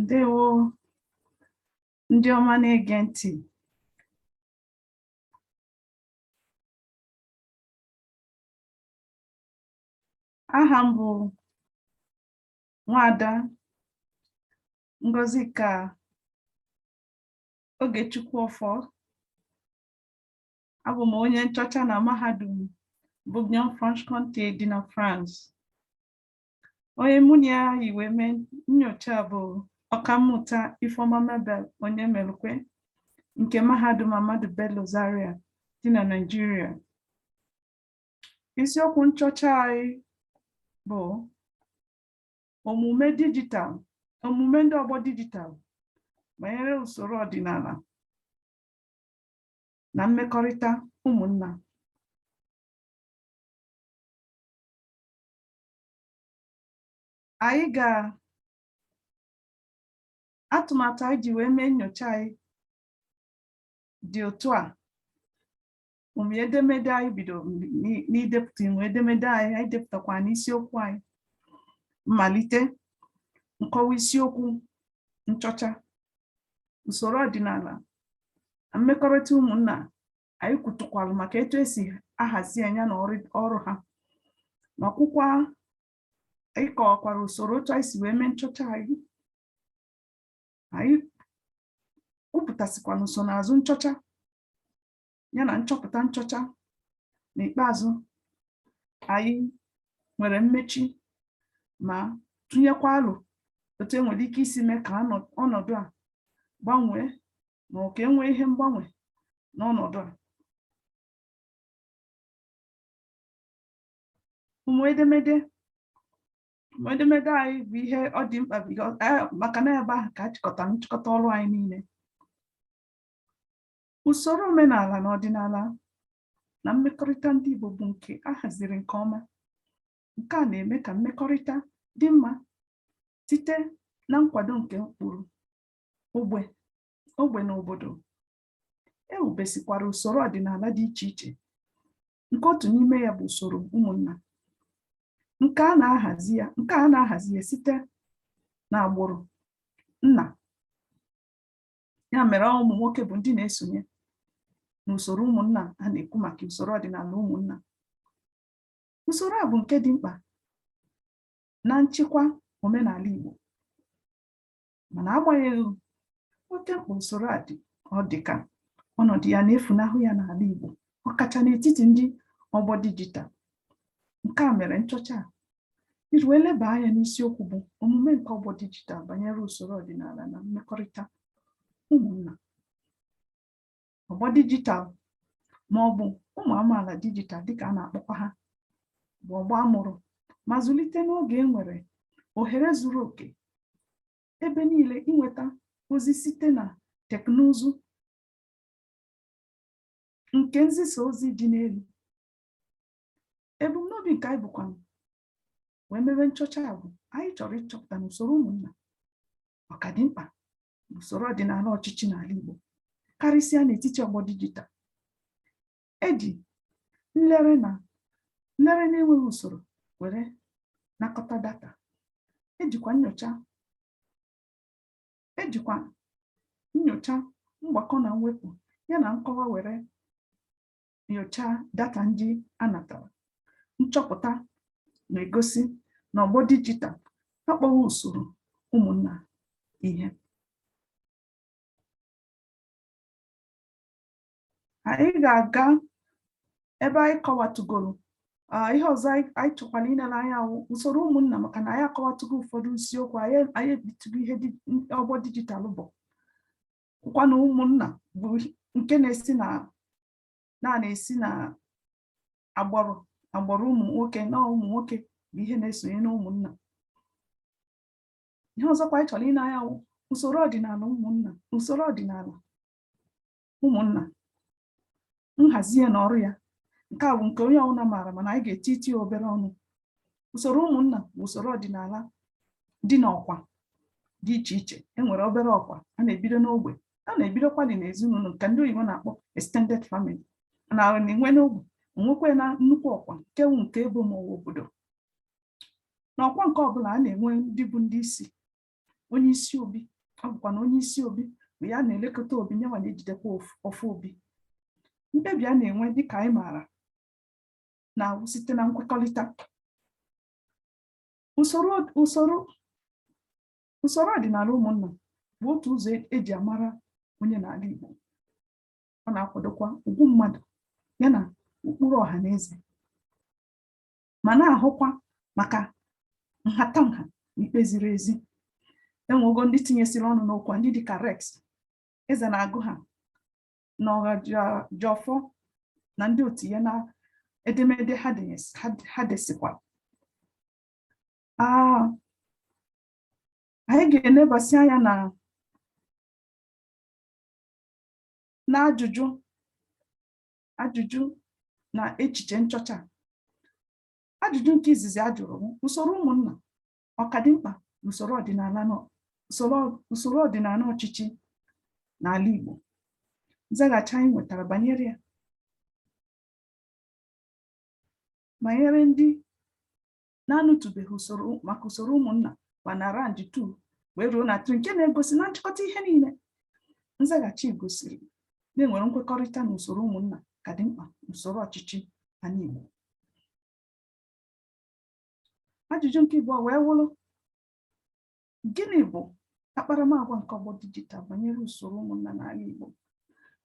ndewo ndị ọma na-ege ntị aha m bụ nwada Ngozika Ogechukwu Ọfọ abụ m onye nchọcha na mahadum Bourguignon Franche-Comté dị na France onye mụ na ya yi wee mee nnyocha bụ ọkammụta Ifeoma Mabel Onyemelukwe nke mahadum Ahmadu Bello Zaria dị na Naịjirịa Isiokwu nchọcha anyị bụ omume dijitalụ, omume ndị ọgbọ dijitalụ banyere usoro ọdịnala na mmekọrịta ụmụnna. Anyị ga atụmatụ anyị ji wee mee nyocha anyị dị otu a ụmị edemede anyị bido n'i- n'idepụta ụmị edemede anyị anyị depụtakwa n'isiokwu anyị mmalite nkọwa isiokwu nchọcha usoro ọdịnala na mmekọrịta ụmụnna anyị kwutụkwalụ maka etu esi ahazi ya na ọrụ ọrụ ha ma kwukwa anyị kọwakwara usoro otu anyị si wee mee nchọcha anyị anyị kwupụtasịkwara nsonaazụ nchọcha ya na nchọpụta nchọcha n'ikpeazụ anyị nwere mmechi ma tụnyekwa alo otu enwere ike isi mee ka ọnọdụ a gbanwee ma ọ ka enwee ihe mgbanwe n'ọnọdụ a ụmị edemede ụmị edemede anyị bụ ihe ọ dị mkpa maka na ebe ahụ ka a chịkọtara nchịkọta ọrụ anyị niile Usoro omenala na ọdịnala na mmekọrịta ndị Igbo bụ nke a haziri nke ọma. Nke a na-eme ka mmekọrịta dị mma site na nkwado nke ụkpụrụ ogbe na obodo. E wubesikwara usoro ọdịnala dị iche iche nke otu n'ime ya bụ usoro ụmụnna. Nke a na-ahazi ya site n'agbụrụ nna ya mere ọ bụ ụmụ nwoke bụ ndị na-esonye n'usoro ụmụnna a na-ekwu maka usoro ọdịnala ụmụnna usoro a bụ nke dị mkpa na nchịkwa omenala Igbo mana agbanyeghị oke mkpa usoro a dị ọ dị ka ọnọdụ ya na-efunahụ ya n'ala Igbo ọkacha n'etiti ndị ọgbọ dijital nke a mere nchọcha a iji wee leba anya n'isiokwu bụ omume nke ọgbọ dijitalụ banyere usoro ọdịnala na mmekọrịta ụmụnna ọgbọ dijitalụ ma ọ bụ ụmụ amaala dijitalụ dịka a na-akpọkwa ha bụ ọgbọ a mụrụ ma zụlite n'oge e nwere ohere zuru oke ebe niile inweta ozi site na teknụzụ nke nzisa ozi dị n'elu ebumnobi nke anyị bukwa wee mewe nchọcha a bụ anyị chọrọ ịchọpụta na usoro ụmụnna ọ ka dị mkpa usoro ọdịnala ọchịchị n'ala Igbo karịsịa n'etiti ọgbọ dijital eji nlere na-enweghị usoro were nakọta data ejikwa nyocha ejikwa nyocha mgbakọ na mwepụ ya na nkọwa were nyochaa data ndị a natara nchọpụta na-egosi na ọgbọ dijital akpọghị usoro ụmụnna ihe anyị ga-aga ebe anyị kọwatụgoro ihe ọzọ anyị chọkwara inere anya wụ usoro ụmụnna maka na anyị akọwatụgo ụfọdụ isiokwu anyị ebitụgo ihe ọgbọ dijitalụ bụ bụkwa na ụmụnna bụ nke na-esi na na-esi na agbụrụ na agbụrụ ụmụ nwoke na ụmụ nwoke bụ ihe na-esonye na ụmụnna ihe ọzọkwa anyị chọrọ ine anya wụ usoro ọdịnala ụmụnna usoro ọdịnala ụmụnna nhazi ya na ọrụ ya nke a bụ nke onye ọbụla maara mana anyị ga-etitụ obere ọnụ usoro ụmụnna bụ usoro ọdịnala dị n'ọkwa dị iche iche enwere obere ọkwa a na-ebido n'ogbe a na-ebidokwadị n'ezinụlọ nke ndị oyibo na-akpọ extended family na-enwe n'ogbe nwekwee na nnukwu ọkwa nke bụ nke ebo ma ọ wụ obodo n'ọkwa nke ọbụla a na-enwe ndị bụ ndị isi onye isi obi ọ bụkwa na onye isi obi bụ ya na-elekọta obi nyanwa na-ejidekwa ọfọ obi mkpebi a na-enwe dịka anyị maara na-awụ site na nkwekọrịta usoro ọdịnala ụmụnna bụ otu ụzọ eji amara onye n'ala Igbo ọ na-akwadokwa ugwu mmadụ ya na ụkpụrụ ọha na eze ma na-ahụkwa maka nhatanha na ikpe ziri ezi enwego ndị tinyesịrị ọnụ n'okwu a ndị dịka Rex Ezenagụ ha na Ọhajiọfọ na ndị otu ya na edemede ha desikwa ah, anyị ga-enebasị anya na n'ajụjụ ajụjụ na echiche nchọcha ajụjụ nke izizi a jụrụ bụ usoro ụmụnna ọ ka dị mkpa usoro ọdịnala usoro ọdịnala ọchịchị n'ala Igbo nzaghachi anyị nwetara banyere ya banyere ndị na-anụtụbeghị maka usoro ụmụnna ma na range 2 wee ruo na 3 nke na-egosi na nchịkọta ihe niile nzaghachi gosiri na e nwere nkwekọrịta na usoro ụmụnna ka dị mkpa usoro ọchịchị anị Igbo ajụjụ nke ịbụọ wee wụrụ Gịnị bụ akparamagwa nke ọgbọ dijital banyere usoro ụmụnna n'ala Igbo?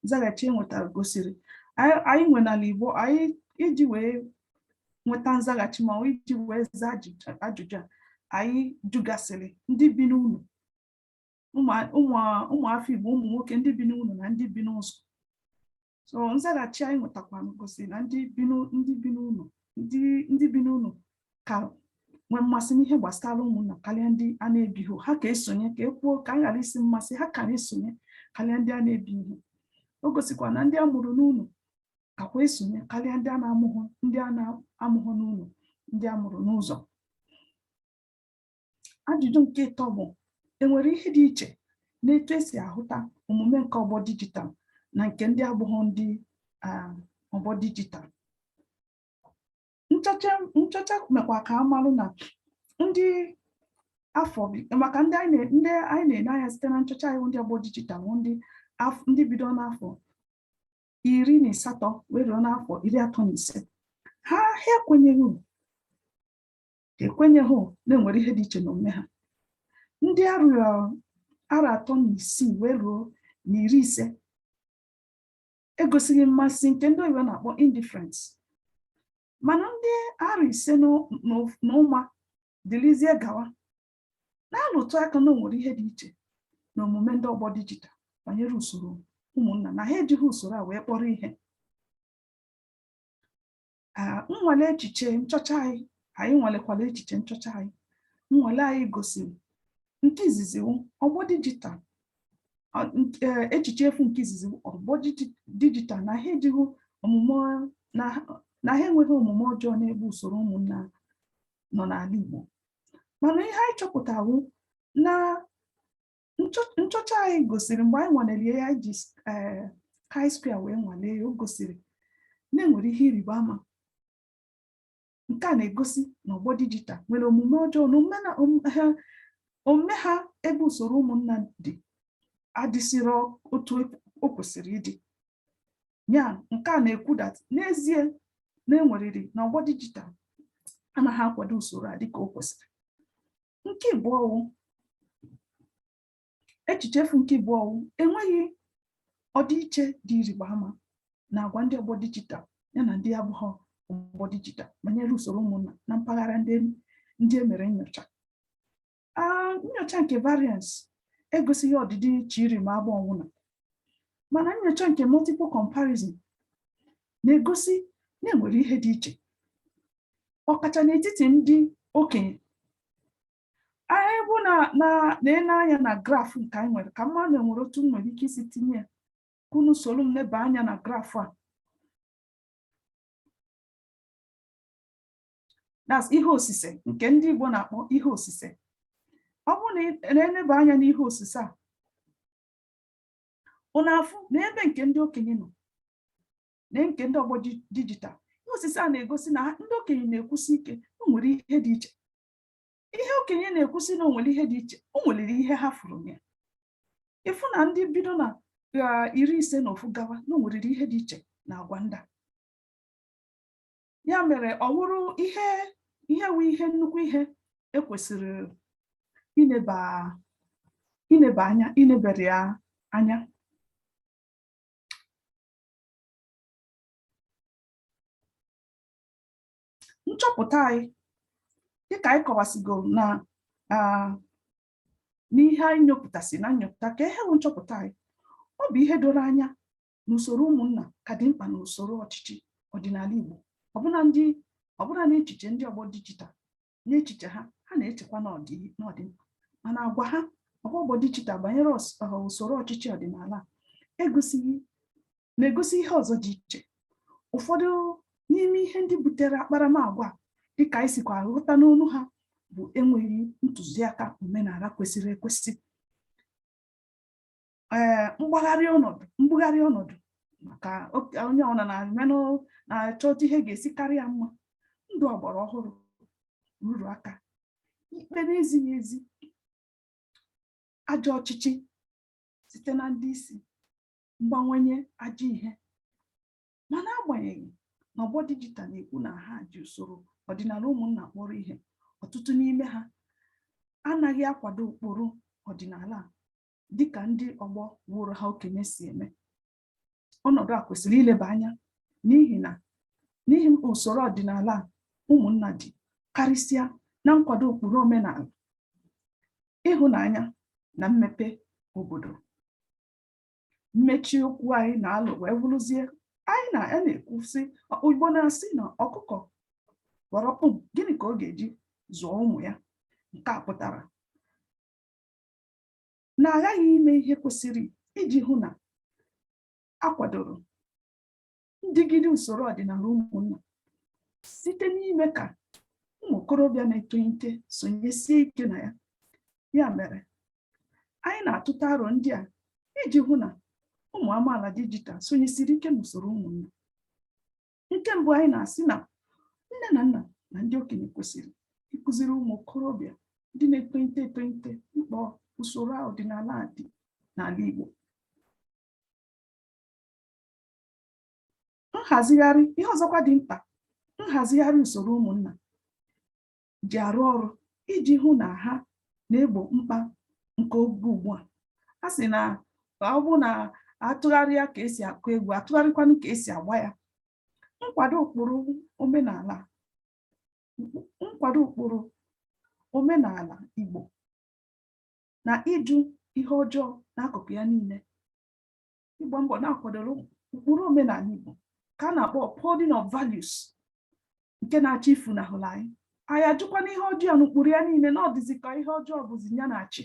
Nzaghachi e nwetara gosiri anyị nwe n'ala Igbo anyị iji wee nweta nzaghachi ma iji wee zaa ajụjụ a anyị jụgasịrị ndị bi n'ụlọ ụmụafọ Igbo ụmụ nwoke ndị bi n'ụlọ na ndị bi n'ụzọ so nzaghachi anyị nwetakwa gosiri na ndị bi n'ụlọ ndị bi n'ụlọ ka nwee mmasị n'ihe gbasara ụmụnna karịa ndị a na-ebighị ha ka esonye ka e kwuo ka a ghara ịsị mmasị ha ka na-esonye karịa ndị a na-ebighị o gosikwa na ndị a mụrụ n'ụlọ kakwa esonye karịa ndị a na-amụghị ndị a na-amụghị n'ụlọ ndị a mụrụ n'ụzọ ajụjụ nke ịtọ bụ enwere ihe dị iche n'etu esi ahụta omume nke ọgbọ dijitalụ na nke ndị abụghị ndị um, ọgbọ dijitalụ nchọcha mekwa ka a malụ na ndị afọ maka ndị anyị na-ene anya site na nchọcha anyị ndị ọgbọ dijitalụ ndị bido n'afọ iri na asatọ wee ruo n'afọ iri atọ na ise ha ha ekwenyeghị ekwenyeghị na e nwere ihe dị iche n'omume ha ndị arọ iri atọ na isii wee ruo na iri ise egosighị mmasị nke ndị oyibo na-akpọ indifference mana ndị arọ iri ise na ụma dịrịzie gawa na-alụtụ aka na o nwere ihe dị iche na omume ndị ọgbọ dijital banyere usoro ụmụnna na ha ejighị usoro a wee kpọrọ ihe nnwale echiche nchọcha anyị anyị nwalekwala echiche nchọcha anyị nnwale anyị gosiri nke izizi ọgbọ dijital e, echiche efu nke izizi ọgbọ dijital na ha ejighị omume na ha enweghị omume ọjọọ n'ebe usoro ụmụnna nọ n'ala Igbo mana ihe anyị chọpụtawo na nchọcha anyị gosiri mgbe anyị nwanere ya anyị ji eh, chi-square wee nwalee ya o gosiri na e nwere ihe ịrịba ama nke a na-egosi na ọgbọ dijital nwere omume ọjọọ na omume ha ebe usoro ụmụnna dị adịsịrọ otu e, o kwesịrị ịdị ya nke a na-ekwu dat n'ezie na e nwerịrị na ọgbọ dijital anaghị akwado usoro a dịka o kwesịrị nke ịbụọ wụ echiche efu nke ịbụọ wụ enweghị ọdịiche dị ịrịba ama na agwa ndị ọgbọ dijital ya na ndị abụghị ọgbọ dijital banyere usoro ụmụnna na mpaghara ndị ndị e mere nyocha Ah, nyocha nke variance egosighị ọdịdị iche ịrịba ama ọwụna mana nyocha nke multiple comparison na-egosi na e nwere ihe dị iche ọkacha n'etiti ndị okenye anyị bụ na na na-ele anya na graf nke anyị nwere kama na enwerọ otu m nwere ike isi tinye ya ka unu soro m leba anya na graf a that's ihe osise nke ndị Igbo na-akpọ ihe osise ọ bụrụ na ị na-eleba anya n'ihe osise a unu afụ na ebe nke ndị okenye nọ na nke ndị ọgbọ dijital ihe osise a na-egosi na ndị okenye na-ekwusi ike na o nwere ihe dị iche ihe okenye na-ekwusi na o nwere ihe dị iche o nwerịrị ihe ha fụrụ ya ịfụ na ndị bido na iri ise na ofu gawa na o nwerịrị ihe dị iche na agwa ndị a ya mere ọ wụrụ ihe ihe wụ ihe nnukwu ihe e kwesịrị ineba ineba anya inebere ya anya nchọpụta anyị dịka anyị kọwasigoro na n'ihe anyị nyopụtasị na nnyopụta ka ihe bụ nchọpụta anyị ọ bụ ihe doro anya na usoro ụmụnna ka dị mkpa na usoro ọchịchị ọdịnala Igbo ọbụna ndị ọbụna n'echiche ndị ọgbọ dijital n'echiche ha ha na-echekwa na ọ dị mkpa mana agwa ha agwa ọgbọ dijital banyere usoro ọchịchị ọdịnala egosighị na-egosi ihe ọzọ dị iche ụfọdụ n'ime ihe ndị butere akparamagwa dịka anyị sikwa ghọta n'ọnụ ha bụ enweghị ntụziaka omenala kwesịrị ekwesị ee eh, mgbagharị ọnọdụ mbugharị ọnọdụ maka onye ọbụla na-emenụ na-achọ otu ihe ga-esi karịa mma ndụ ọgbara ọhụrụ nrụrụ aka ikpe na-ezighị ezi ajọ ọchịchị site na ndị isi mgbanwenye ajọ ihe ma n'agbanyeghị na ọgbọ dijital na-ekwu na ha ji usoro ọdịnala ụmụnna kpọrọ ihe ọtụtụ n'ime ha anaghị akwado ụkpụrụ ọdịnala dịka ndị ọgbọ wụrụ ha okenye si eme ọnọdụ a kwesịrị ileba anya n'ihi na n'ihi usoro ọdịnala ụmụnna dị karịsịa na nkwado ụkpụrụ omenala ịhụnanya na mmepe obodo mmechi okwu anyị na alo wee bụrụzie anyị na ya na-ekwu sị Igbo na-asị na ọkụkọ ghara kwọm gịnị ka ọ ga-eji zụọ ụmụ ya nke a pụtara na aghaghị ime ihe kwesịrị iji hụ na akwadoro ndịgide usoro ọdịnala ụmụnna site n'ime ka ụmụ okorobịa na-etolite sonyesie ike na ya ya mere anyị na-atụta aro ndị a iji hụ na ụmụ amaala dijital sonyesiri ike n'usoro ụmụnna nke mbụ anyị na-asị na nne na nna na ndị okenye kwesịrị ịkụziri ụmụ okorobịa ndị na-etolite etolite mkpa usoro ọdịnala dị n'ala Igbo nhazigharị ihe ọzọkwa dị mkpa nhazigharị usoro ụmụnna ji arụ ọrụ iji hụ na ha na-egbo mkpa nke oge ugbu a a sị na ọ bụ na atụgharịa ka esi akụ egwu atụgharịkwanụ ka esi agba ya nkwado ụkpụrụ omenala nkwado ụkpụrụ omenala Igbo na ịjụ ihe ọjọọ n'akụkụ ya niile ịgba mbọ na akwadoro ụkpụrụ omenala Igbo ka a na-akpọ upholding of values nke na-achọ ifunahụla anyị anyị ajụkwanụ ihe ọjọọ n'ụkpụrụ ya niile na ọ dịzi ka ihe ọjọọ bụzi ya na-achị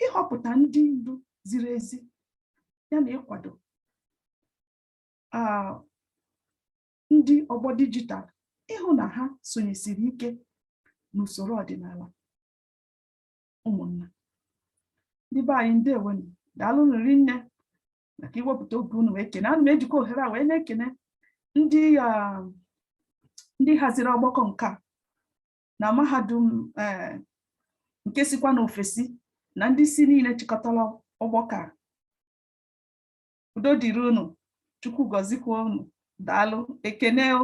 ịhọpụta ndị ndu ziri ezi ya na ịkwado ndị ọgbọ dijital ịhụ na ha sonyesiri ike n'usoro ọdịnala ụmụnna ndị be anyị ndewonụ daalụnụ rinne maka iwepụta oge unu wee kene ana m ejikwa ohere a wee na-ekene ndị um, ndị haziri ọgbakọ nke a na mahadum eh, nke sikwa n'ofesi na ndị isi niile chịkọtara ọgbakọ a udo dịrị unu chukwu gọzikwa unu daalụ ekene o